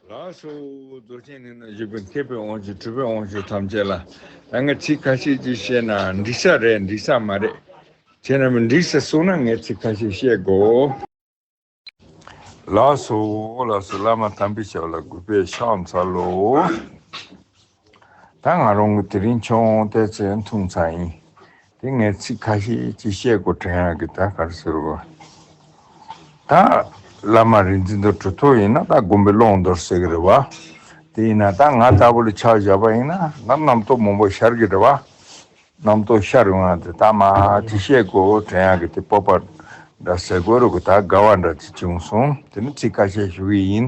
ལགས་སོ། རྫོགས་ཆེན་ནི་ན་གཞོན་པའི་མཁས་པའི་དབང་ཕྱུག་གྲུབ་པའི་དབང་ཕྱུག་ཐམས་ཅད་ལ། ད་ངས་ཚིག་ཁ་ཤས་ཅིག་བཤད་ན་འགྲིག་ས་རེད་འགྲིག་ས་མ་རེད། བྱས་ན་མི་འགྲིག་ས་གསུང་ན་ངས་ཚིག་ཁ་ཤས་བཤད་དགོས། ལགས་སོ། ལགས་སོ་བླ་མ་དམ་པའི་ཞབས་ལ་གུས་པས་ཕྱག་འཚལ་ལོ། ད་ང་རང་གི་དེ་རིང་མཆོག་དབང་བསྟད་ཚེ་འཐུང་ཚར་ཡིན། དེ་ངས་ཚིག་ཁ་ཤས་ཅིག་བཤད་དགོས་དྲན་ཡག་གི་ད་གར་ཟེར་རོ། ད་བླ་མ་རིག་འཛིན་དུར་ཁྲོད་ཐོག་ཡིན་ན་ད་དགོན་པའི་ཀློང་དུར་ཟེར་གི་རེད་བ། དེ་ཡིན་ན་ད་ང་ལྟ་བུ་ལ་ཕྱག་བཞག་པ་ཡིན་ན་ད་རྣམ་རྟོག་མང་པོ་ཤར་གི་རེད་བ། རྣམ་རྟོག་ཤ་རུ་ང་དེ་དག་མ་ཅི་བཤད་གོ་བྲན་ཡག་གི་དེ་སྤོབས་པ་འདྲ་ཟེར་གོ་རུ་གི་དག་དགའ་བ་འདྲ་ཅི་བྱུང་སོང་དེ་ནི་ཚིག་ཁ་ཤས་ཞུ་གི་ཡིན་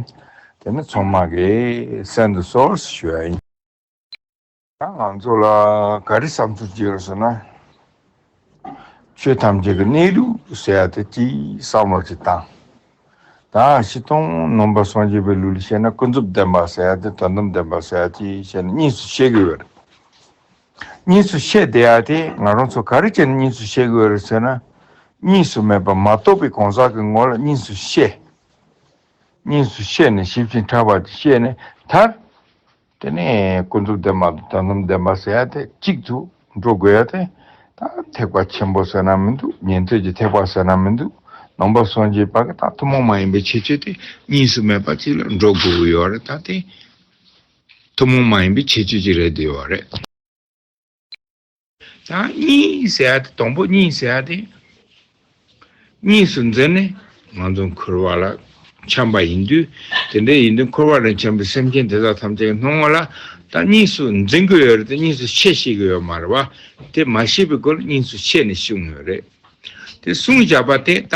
དེ་ནི་ཚོང་མ་གི་སེམས་དུ་སོ་ཞུ་ཡ་ཡིན། ད་ང་ཚོ་ལ་ག་རེ་བསམ་ཚུལ་བརྗོད་རོགས་ཟེར་ན། ཆོས་ཐམས་ཅད་ཀྱི་གནས་ལུགས་ཟེར་ཡ་དེ་གཅིག་བསམ་བློ་གཅིག་བཏང། ད་ཤི་སྟོང་ནོམ་པ་སངས་རྒྱས་པའི་ལུགས་ལ་བཤད་ན་ཀུན་རྫོབ་བདེན་པ་ཟེར་ཡ་དེ་དོན་དམ་བདེན་པ་ཟེར་ཡ་གཅིག་བཤད་ན་གཉིས་སུ་ཤེས་གི་ཡོད་རེད། གཉིས་སུ་བཤད་བདེ་ཡག་དེ་ང་རང་ཚོ་ག་རེ་བྱས་ནས་གཉིས་སུ་བཤད་དགོས་རེད་ཟེར་ན། གཉིས་སུ་མེད་པར་མ་རྟོགས་པའི་གང་ཟག་གི་ངོ་ལ་གཉིས་སུ་བཤད། གཉིས་སུ་བཤད་ནས་ཞིབ་ཅིང་ཕྲ་བར་བཤད་ནས་མཐར། དེ་ནས་ཀུན་རྫོབ་བདེན་པ་དང་དོན་དམ་བདེན་པ་ཟེར་ཡག་དེ་གཅིག་ཏུ་འགྲོ་དགོས་ཡག་དེ། ད་ཐེག་པ་ཆེན་པོ་ཟེར་ན་མི་འདུག་ཉན་ཐོས་ཀྱི་ཐེག་པ་ཟེར་ན་མི་འདུག་ནང་པ་སངས་རྒྱས་པ་གི་དང་ཐུན་མོང་མ་ཡིན་པའི་ཁྱད་ཆོས་དེ་གཉིས་སུ་མེད་པ་གཅིག་ལ་འགྲོ་དགོས་ཀྱི་ཡོད་རེད་ད་དེ། ཐུན་མོང་མ་ཡིན་པའི་ཁྱད་ཆོས་ཅིག་རེད་འདོད་པ་རེད། ཡང་གཉིས་ཟེར་བ་དེ་དང་པོ་གཉིས་ཟེར་བ་དེ་གཉིས་སུ་འཛིན་ནས་ང་ཚོ་འཁོར་བ་ལ་འཁྱམས་པ་ཡིན་དུས་དེ་འདྲ་ཡིན་དུས་འཁོར་བ་ལ་འཁྱམས་པའི་སེམས་ཅན་དེ་དག་ཐམས་ཅད་ཀྱི་སྣང་ངོ་ལ་ད་གཉིས་སུ་འཛིན་གྱི་ཡོད་རེད་དེ་གཉིས་སུ་ཕྱེ་ཤེས་ཀྱི་ཡོད་མ་རེད་བ་དེ་མ་ཤེས་པའི་སྐོར་གཉིས་སུ་ཕྱེ་ནས་ཤེས་ངོ་རེད་དེ་གསུངས་བཞག་པ་དེ་ད་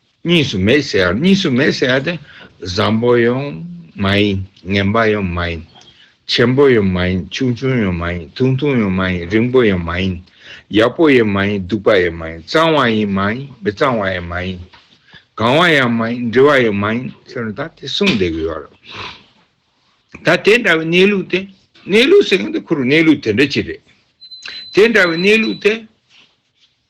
གཉིས་སུ་མེད་ཟེར་ཡང་གཉིས་སུ་མེད་ཟེར་ཡ་དེ་བཟང་པོ་ཡང་མ་ཡིན་ངན་པ་ཡང་མ་ཡིན། ཆེན་པོ་ཡང་མ་ཡིན་ཆུང་ཆུང་ཡང་མ་ཡིན་ཐུང་ཐུང་ཡང་མ་ཡིན་རིང་པོ་ཡང་མ་ཡིན། ཡག་པོ་ཡང་མ་ཡིན་སྡུག་པ་ཡང་མ་ཡིན་གཙང་བ་ཡང་མ་ཡིན་མི་གཙང་བ་ཡང་མ་ཡིན། གང་བ་ཡང་མ་ཡིན་འདྲི་བ་ཡང་མ་ཡིན་ཟེར་ན་ད་དེ་གསུངས་བསྡད་ཀྱི་ཡོད་རེད། ད་དེ་འདྲ་བའི་གནས་ལུགས་དེ་གནས་ལུགས་ཟེར་མཁན་དེ་ཁོ་རང་གནས་ལུགས་དེ་འདྲ་ཅིག་རེད། དེ་འདྲ་བའི་གནས་ལུགས་དེ།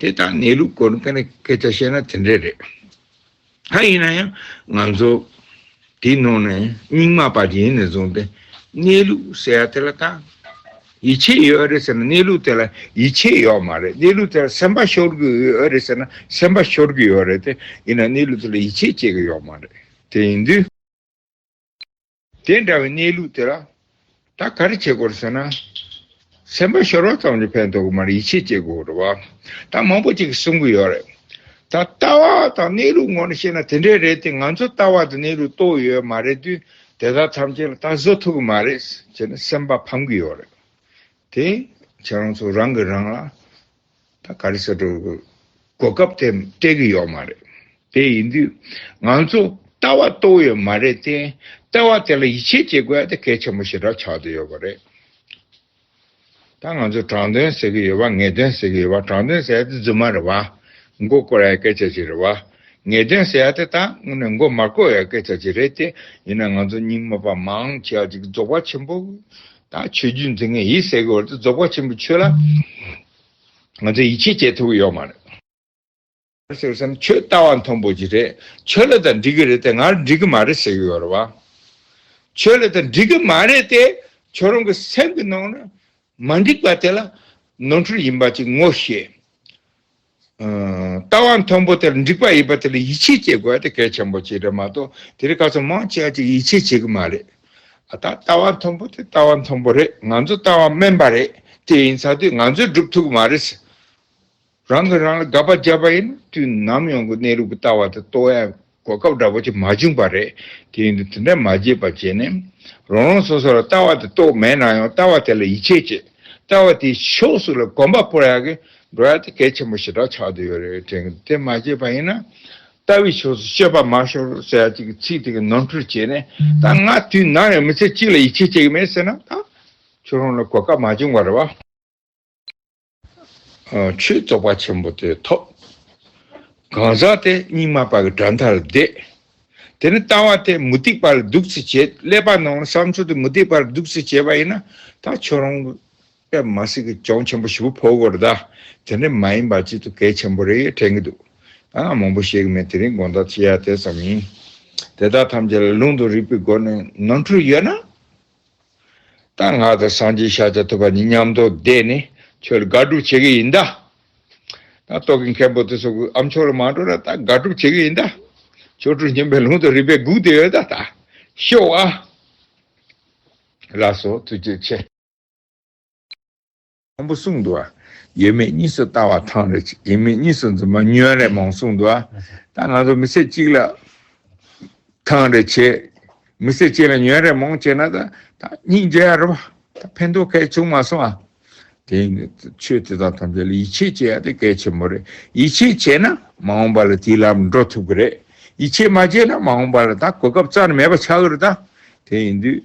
དེ་དག་གནས་ལུགས་སྐོར་སྐད་ཆ་བཤད་ན་དེ་འདྲས་རེད། ད་ཡིན་ན་ཡང་ང་ཚོ་དེའི་ནང་ནས་རྙིང་མ་པ་རྗེས་ནས་བཟུང་སྟེ་གནས་ལུགས་ཟེར་ཡ་དེ་ལ་ད་ཡིད་ཆེས་ཡོད་ཨེ་རེད་ཟེར་ན་གནས་ལུགས་དེ་ལ་ཡིད་ཆེས་ཡོད་མ་རེད་གནས་ལུགས་དེ་ལ་སེམས་པ་ཤོར་གི་ཡོད་ཨེ་རེད་ཟེར་ན་སེམས་པ་ཤོར་གི་ཡོད་རེད་དེ་ཡིན་ན་གནས་ལུགས་དེ་ལ་ཡིད་ཆེས་བྱེད་ཀྱི་ཡོད་མ་རེད་དེ་ཡིན་དུས། དེ་འདྲ་བའི་གནས་ལུགས་དེ་ལ། ད་ག་རེ་བྱེད་དགོས་ཟེར་ན། སེམས་པ་ཤོར་བ་ཙམ་གྱིས་ཕན་ཐོགས་ཀྱི་མ་རེད་ཡིད་ཆེས་བྱེད་དགོས་རེད་བ། ད་མང་པོ་ཅིག་གསུང་གི་ཡོད་རེད། ད་ལྟ་བ་དང་གནས་ལུགས་ངོ་ནས་བཤད་ན་དེ་འདྲས་རེད་དེ་ང་ཚོ་ལྟ་བ་དང་གནས་ལུགས་རྟོགས་ཡོད་མ་རེད་དུས་དེ་དག་ཐམས་ཅད་ལ་ད་བཟོད་ཐུབ་ཀྱི་མ་རེད་ཟེར་ནས་སེམས་པ་ཕམ་གྱི་ཡོད་རེད་དེ། ཁྱེད་རང་ཚོ་རང་གིས་རང་ལ་ད་ག་རེ་ཟེར་འགྲོ་གི། གོ་སྐབས་དེ་སྤྲད་གི་ཡོད་མ་རེད། དེ་ཡིན་དུས་ང་ཚོ་ལྟ་བ་རྟོགས་ཡོད་མ་རེད་དེ། ལྟ་བ་དེ་ལ་ཡིད་ཆེས་བྱེད་དགོས་དེ་གལ་ཆེན་པོ་ཞེ་དྲག་ཆགས་དུ་ཡོད་པ་རེད། ད་ང་ཚོ་དྲང་དོན་ཟེར་གི་ཡོད་པ་ངེས་དོན་ཟེར་གི་ཡོད་པ་དྲང་དོན་ཟེར་ཡ་དེ་རྫུན་མ་རེད་བ། མགོ་བསྐོར་ཡའི་སྐད་ཆ་ཅིག་རེད་བ། ངེས་དོན་ཟེར་ཡ་དེ་ད་དངོས་གནས་མགོ་མ་བསྐོར་ཡའི་སྐད་ཆ་ཅིག་རེད་དེ། ཡིན་ན་ང་ཚོ་རྙིང་མ་པ་མང་ཆེ་བ་ཅིག་རྫོགས་པ་ཆེན་པོ་དང་ཆོས་བརྒྱུད་འཛིན་མཁན་ཡིད་སེ་གི་བར་དུ་རྫོགས་པ་ཆེན་པོ་ཆོས་ལ་ང་ཚོས་ཡིད་ཆེས་བྱེད་ཐུབ་ཀྱི་ཡོད་མ་རེད། ཟེར་བསམ་ཁྱོད་ལྟ་བ་མཐོན་པོ་ཅིག་རེད་ཁྱོད་ལ་ད་འགྲིག་གི་རེད་དེ་ངར་འགྲིག་གི་མ་རེད་ཟེར་གི་ཡོད་རེད་བ། ཁྱོད་ལ་ད་འགྲིག་གི་མ་རེད་དེ་ཁྱོད་རང་གི་སེམས་ཀྱི་ནང་ན་མ་འགྲིག་པ་དེ་ལ་ནོར་འཁྲུལ་ཡིན་པ་ཅིག་ངོ་ཤེས། ལྟ་བ་མཐོན་པོ་དེར་འགྲིག་པ་ཡིན་པ་དེ་ལ་ཡིད་ཆེས་བྱེད་དགོས་དེ་གལ་ཆེན་པོ་གཅིག་རེད་མ་གཏོགས་དེ་རིགས་ག་ཚོད་མང་བྱས་ཀྱང་ཡིད་ཆེས་བྱེད་ཀྱི་མ་རེད། ད་ལྟ་བ་མཐོན་པོ་དེ་ལྟ་བ་མཐོན་པོ་རེད་ང་ཚོ་ལྟ་བ་དམན་པ་རེད་དེ་ཡིན་ཚ་དུས་ང་ཚོས་སྒྲུབ་ཐུབ་ཀྱི་མ་རེད། རང་གིས་རང་ལ་དགག་པ་བརྒྱབ་པ་ཡིན་དུས་ནམ་ཡོང་གི་གནས་ལུགས་ཀྱི་ལྟ་བ་དེ་ལྟོས་གོ་སྐབས་འདྲ་པོ་ཆེ་མ་བྱུང་པ་རེད། དེ་ཡིན་དུས་དེ་འདྲ་མ་བྱེད་པར་བྱས་ནས། རང་རང་སོ་སོ་ལ་ལྟ་བ་དེ་རྟོགས་མེད་ན་ཡང་ལྟ་བ་དེ་ལ་ཡིད་ཆེས་བྱེད། ལྟ་བ་དེའི་ཕྱོགས་སུ་ལ་གོམ་པ་སྤོར་ཡག་གི་འགྲོ་ཡག་དེ་གལ་ཆེན་པོ་ཞེ་དྲག་ཆགས་འདུག་ཡོད་རེད་དྲན་གི་འདུག་དེ་མ་བྱས་པ་ཡིན་ན། ལྟ་བའི་ཕྱོགས་སུ་སྤྱོད་པ་མ་ཤོར་རོགས་ཟེར་ཡག་ཅིག་གི་ཚིག་དེ་གི་ནོར་འཁྲུལ་བྱས་ནས་ད་ང་དུས་ནམ་ཡང་མི་ཚེ་གཅིག་ལ་ཡིད་ཆེས་བྱེད་ཀྱི་མེད་ཟེར་ན་ད། ཁྱོད་རང་ལ་གོ་སྐབས་མ་བྱུང་བ་རེད་བ། ཆོས་རྫོགས་པ་ཆེན་པོ་དེ་ཐོབ། གང་ཟག་དེ་སྙིགས་མ་པ་གི་དགྲ་མཐའ་ལ་འདེད། དེ་ནི་ལྟ་བ་དེ་མུ་སྟེགས་པ་ལ་གདུགས་བརྩི་བྱེད་ཀླད་པ་ནང་ལ་བསམ་ཚུལ་དེ་མུ་སྟེགས་པ་ལ་གདུགས་བརྩི་བྱེད་པ་ཡིན་ན་ད་ཁྱོད་རང་གི་ཀླད་མ་སྲིད་ཀྱི་གྱོང་ཆེན་པོ་ཞིག་པོ་ཕོག་གི་རེད་ད། དེ་འདྲ་མ་ཡིན་པ་གཅིག་ཏུ་གལ་ཆེན་པོ་རེད་དྲན་གི་འདུག་ད་ང་མང་པོ་བཤད་གི་མེད་དེ་རིང་དགོངས་དག་བྱེད་ཡ་དེ་ཙམ་ཡིན། དེ་དག་ཐམས་ཅད་ལ་ལུང་དང་རིགས་པའི་སྒོ་ནས་ནོར་འཁྲུལ་ཡོད་ན། ད་ང་ཚོ་སངས་རྒྱས་ཤར་བྱ་ཐུབ་པ་ནི་ཉམས་རྟོགས་བསྡད་ནས་ཁྱོད་དགག་སྒྲུབ་བྱེད་ཀྱི་ཡིན་གདའ། ད་རྟོག་གི་མཁན་པོ་དེ་ཚོ་གུ་ཨམ་ཆོག་ལ་མ་འགྲོ་ན་ད་དགག་སྒྲུབ་བྱེད་ཀྱི་ཡིན་གདའ། ཆོ་འཕྲུལ་སྙིམ་པའི་ལུང་དུ་རིགས་པས་སྒུག་བསྡད་ཡོད་གདའ། ཤོག་ཨ། ལགས་སོ་ཐུགས་རྗེ་ཆེ། དང་པོ་གསུངས་འདུག། ཡོད་མེད་གཉིས་སུ་ལྟ་བ་ཐང་རེ་གཅིག་ཡིན་མིན་གཉིས་སུ་འཛིན་པ་ཉོན་རེ་མང་གསུངས་འདུག་ད་ང་ཚོ་མི་ཚེ་གཅིག་ལ་ཐང་རེ་བྱེད། མི་ཚེ་གཅིག་ལ་ཉོན་རེ་མང་བྱེད་ན་ད་སྙིང་རྗེ་ཡ་རབ་ད་ཕན་ཐོགས་གལ་ཆུང་མ་སོང་ཨ། དེ་ཡིན་ན་ཆོས་དེ་དག་ཐམས་ཅད་ལ་ཡིད་ཆེས་བྱེད་ཡ་དེ་གལ་ཆེན་པོ་རེད་ཡིད་ཆེས་བྱས་ན་མ་འོངས་པ་ལ་དེའི་ལམ་ལ་འགྲོ་ཐུབ་གི་རེད་ཡིད་ཆེས་མ་བྱས་ན་མ་འོངས་པ་ལ་ད་གོ་སྐབས་རྩ་ནས་མེད་པ་ཆགས་གི་རེད་ད་དེ་ཡིན་དུས།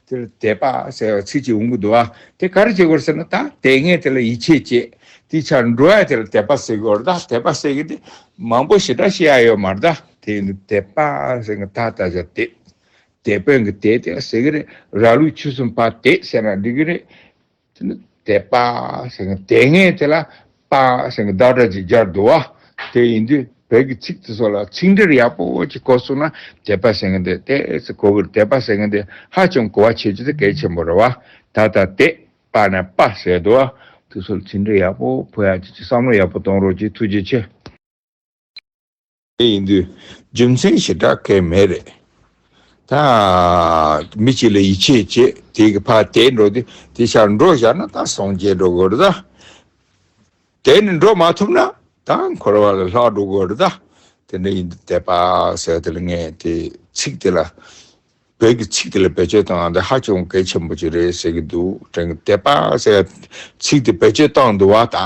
དེ་ལ་དད་པ་ཟེར་བ་ཚིག་གཅིག་འུང་གི་འདུག་ཨ། དེ་ག་རེ་བྱེད་དགོས་ཟེར་ན་ད་དད་ངེས་དེ་ལ་ཡིད་ཆེས་བསྐྱེད། དེའི་ཆར་འགྲོ་བས་དེ་ལ་དད་པ་སེལ་དགོས་ར་ད་དད་པ་སེལ་གི་དེ་མང་པོ་ཞེ་དྲག་ཤེས་ཡ་ཡོད་མ་ར་ད་དེ་ཡིན་དུ་དད་པ་ཟེར་གི་ད་ད་ཆ་དད། དད་པའི་གི་དད་དེ་ལ་ཟེར་གི་རེད་ར་ལུག་ཆུ་གསུམ་པ་དད་ཟེར་ན་འགྲིག་གི་རེད། དེ་ནི་དད་པ་ཞེས་དང་དེ་ངས་དེ་ལ་དཔའ་ཞེས་བདག་སྒྲ་ཅིག་སྦྱར་འདུག་བ་དེ་ཡིན་དུས་བོད་ཀྱི་ཚིག་དེ་ཚོ་ལ་ཚིག་འགྲེལ་ཡག་པོ་ཅིག་བཀོད་སོང་ན་དད་པ་ཞེས་དེ་ལྟའི་ཚིག་གོ་གི་དད་པ་ཞེས་དེ་ཧ་ཅང་གོ་བ་ཆོད་རྒྱུ་དེ་གལ་ཆེན་པོ་རེད་བ་ད་ལྟ་དད་པ་ནས་དཔའ་བྱས་འདུག་བ་དེ་ཚོ་ལ་ཚིག་འགྲེལ་ཡག་པོ་ཕུལ་ཡག་ཅིག་ཅིག་བསམ་བློ་ཡག་པོ་གཏོང་རོགས་ཅིག་ཐུགས་རྗེ་ཆེ། དེ་ཡིན་དུས་རྒྱུ་མཚན་ཞེ་དྲག་གེ་མེད་རེད། ད་མི་གཅིག་ལ་ཡིད་ཆེས་བྱས་དེ་གི་ཕར་དེད་འགྲོ་དེ་དེ་ཕྱར་འགྲོ་བཞག་ན་ད་སངས་རྒྱས་འགྲོ་དགོས་རེད་ད། དེད་ནས་འགྲོ་མ་ཐུབ་ན་ད་འཁོར་བ་ལ་ལྷག་འགྲོ་དགོས་རེད་ད། དེ་འདྲ་ཡིན་དུས་དད་པ་ཟེར་དེ་ལ་ངས་དེ་ཚིག་དེ་ལ་བོད་ཀྱི་ཚིག་དེ་ལ་བེད་སྤྱོད་བཏང་དེ་ཧ་ཅང་གལ་ཆེན་པོ་ཅིག་རེད་ཟེར་གི་འདུག་དྲན་གི་དད་པ་ཟེར་བ་དེ་ཚིག་དེ་བེད་སྤྱོད་བཏང་འདུག་བ་ད།